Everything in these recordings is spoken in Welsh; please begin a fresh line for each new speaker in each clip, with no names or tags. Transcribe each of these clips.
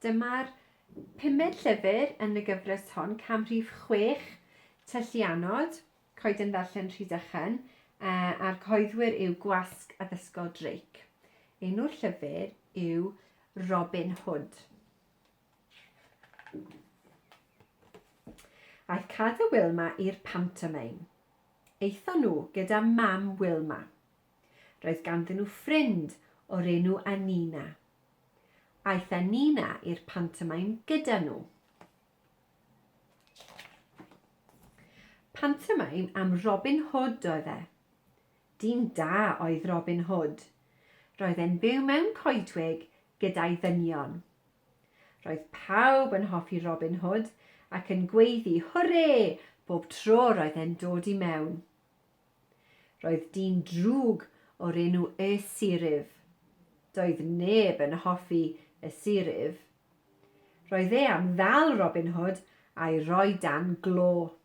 Dyma'r pumed llyfr yn y gyfres hon, cam rhif chwech, Tylluanod, Coeden Ddarllen Rhydychen, a'r cyhoeddwyr yw Gwasg Addysgol Drake. Enw'r llyfr yw Robin Hood. Aeth Cad a Wilma i'r pantomeim. Aethon nhw gyda mam Wilma. Roedd ganddyn nhw ffrind o'r enw Anina. Aeth Anina i'r pantomaim gyda nhw. Pantomaim am Robin Hood oedd e. Dyn da oedd Robin Hood. Roedd e'n byw mewn coedwig gyda'i ddynion. Roedd pawb yn hoffi Robin Hood ac yn gweiddi hwrê bob tro roedd e'n dod i mewn. Roedd dyn drwg o'r enw Y Siryf. Doedd neb yn hoffi Y Siryf. Roedd e am ddal Robin Hood a'i roi dan glo.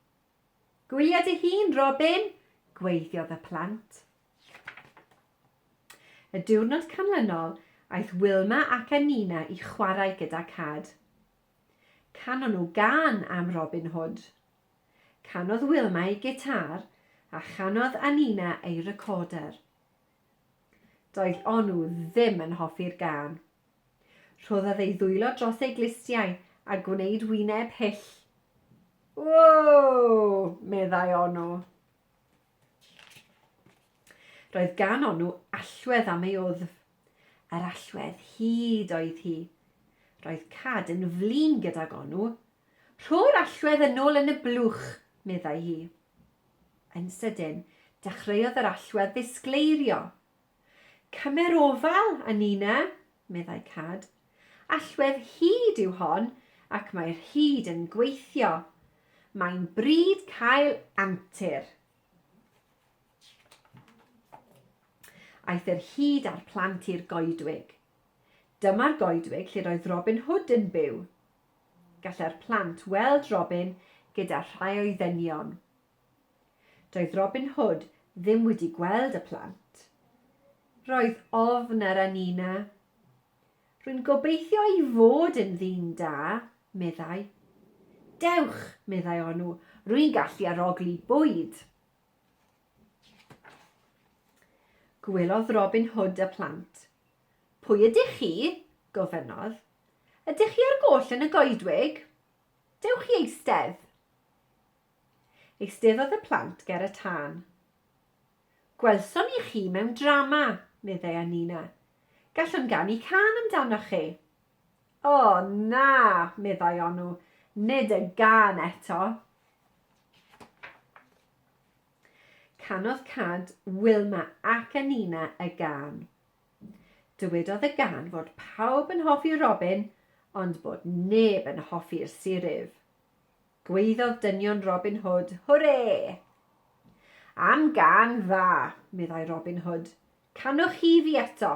Gwylio dy hun, Robin! gwaeddiodd y plant. Y diwrnod canlynol, aeth Wilma ac Anina i chwarae gyda Cad. Canon nhw gân am Robin Hood. Canodd Wilma ei gitâr a chanodd Anina ei recorder. Doedd Onu ddim yn hoffi'r gân. Rhoddodd ei ddwylo dros ei glustiau a gwneud wyneb hyll. Ww! meddai Onu. Roedd gan Onu allwedd am ei wddf. Yr allwedd hud oedd hi. Roedd Cad yn flin gydag Onu. Rho'r allwedd yn ôl yn y blwch, meddai hi. Yn sydyn, dechreuodd yr allwedd ddisgleirio. Cymer ofal, a ninna, meddai Cad. Allwedd hud yw hon, ac mae'r hud yn gweithio. Mae'n bryd cael antur. Aeth yr hud a'r plant i'r goedwig. Dyma'r goedwig lle roedd Robin Hood yn byw. Gallai'r plant weld Robin gyda rhai o'i ddynion. Doedd Robin Hood ddim wedi gweld y plant. Roedd ofn ar Anina. Rwy'n gobeithio ei fod yn ddyn da, meddai. Dewch, meddai Onw, rwy'n gallu arogli bwyd. Gwelodd Robin Hood y plant. Pwy ydych chi? gofynnodd. Ydych chi ar goll yn y goedwig? Dewch i eistedd. Eisteddodd y plant ger y tân. Gwelsom ni chi mewn drama, meddai â Nina. Gallwn ganu cân amdanoch chi. O, na, meddai Onw, nid y gân eto. Canodd Cad, Wilma ac a Nina y gân. Dywedodd y gân fod pawb yn hoffi Robin, ond bod neb yn hoffi'r siryf. Gwaeddodd dynion Robin Hood, Hwrê! Am gân dda, meddai Robin Hood. Canwch chi fi eto.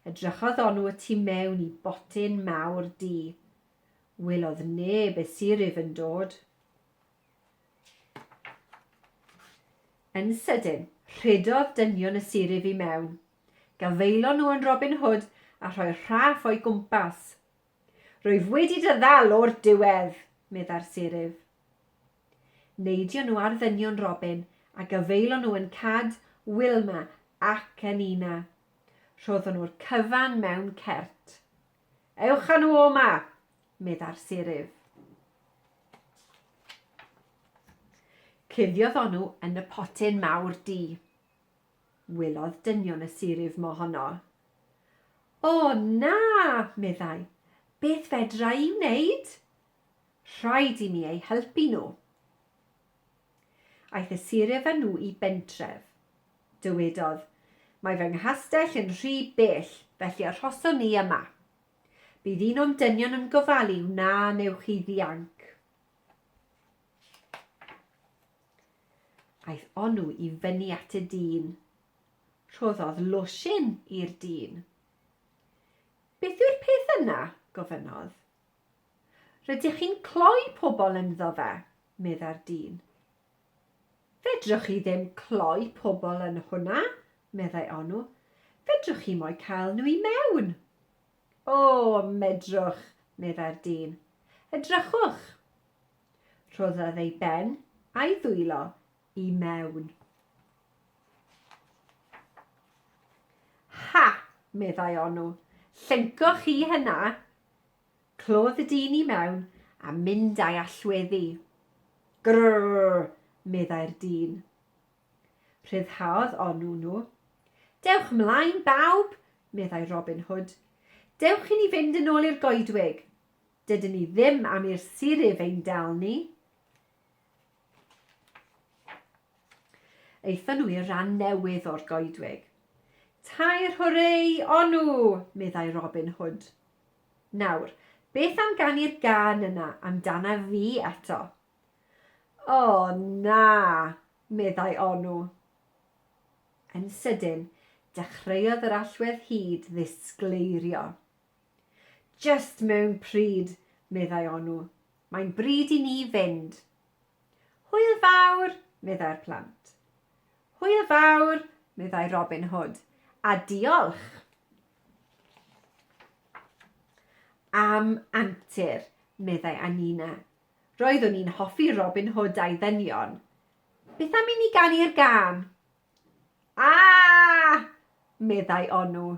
Edrychodd Onw y tu mewn i botyn mawr du. Welodd neb y siryf yn dod. Yn sydyn, rhedodd dynion y siryf i mewn. Gafaelon nhw yn Robin Hood a rhoi rhaff o'i gwmpas. Rwyf wedi dy ddal o'r diwedd! meddai'r seryf. Neidion nhw ar ddynion Robin a gyfeilon nhw yn Cad, Wilma ac yn Ina. Rhoddon nhw'r cyfan mewn cert. Ewch â nhw o 'ma! meddai'r seryf. Cuddiodd onw yn y potyn mawr du. Welodd dynion y sir ef mohono. O, na! meddai. Beth fedra i wneud? Rhaid i mi eu helpu nhw. Aeth y sir ef â nhw i bentref. Dywedodd, Mae fy nghastell yn rhy bell, felly arhoson ni yma. Bydd un o'n dynion yn gofalu wna wnewch chi ddianc. Aeth onw i fyny at y dyn. Rhoddodd losin i'r dyn. Beth yw'r peth yna? gofynnodd. Rydych chi'n cloi pobl ynddo fe, medda'r dyn. Fedrwch chi ddim cloi pobl yn hwnna, meddai onw. Fedrwch chi mo'i cael nhw i mewn. O, medrwch, meddai'r dyn. Edrychwch. Rhoddodd ei ben a'i ddwylo i mewn. Ha! meddai Onw, llenco chi hynna? Clodd y dyn i mewn a mynd a'i allweddi. Grrrr! meddai'r dyn. Rhyddhaodd Onw nhw. Dewch mlaen, bawb! meddai Robin Hood. Dewch i ni fynd yn ôl i'r goedwig. Dydyn ni ddim am i'r siryf ein dal ni. Aethon nhw i'r ran newydd o'r goedwig. Tair hwrei, onw, meddai Robin Hood. Nawr, beth am ganu'r gan yna amdana fi eto? O, na, meddai onw. Yn sydyn, dechreuodd yr allwedd hud ddisgleirio. Jyst mewn pryd, meddai Onu. Mae'n bryd i ni fynd. Hwyl fawr, meddai'r plant. Hwyl fawr, meddai Robin Hood, a diolch am antur, meddai Anina. Roeddwn i'n hoffi Robin Hood a'i ddynion. Beth am i ni ganu'r gân? Ah! meddai Onu.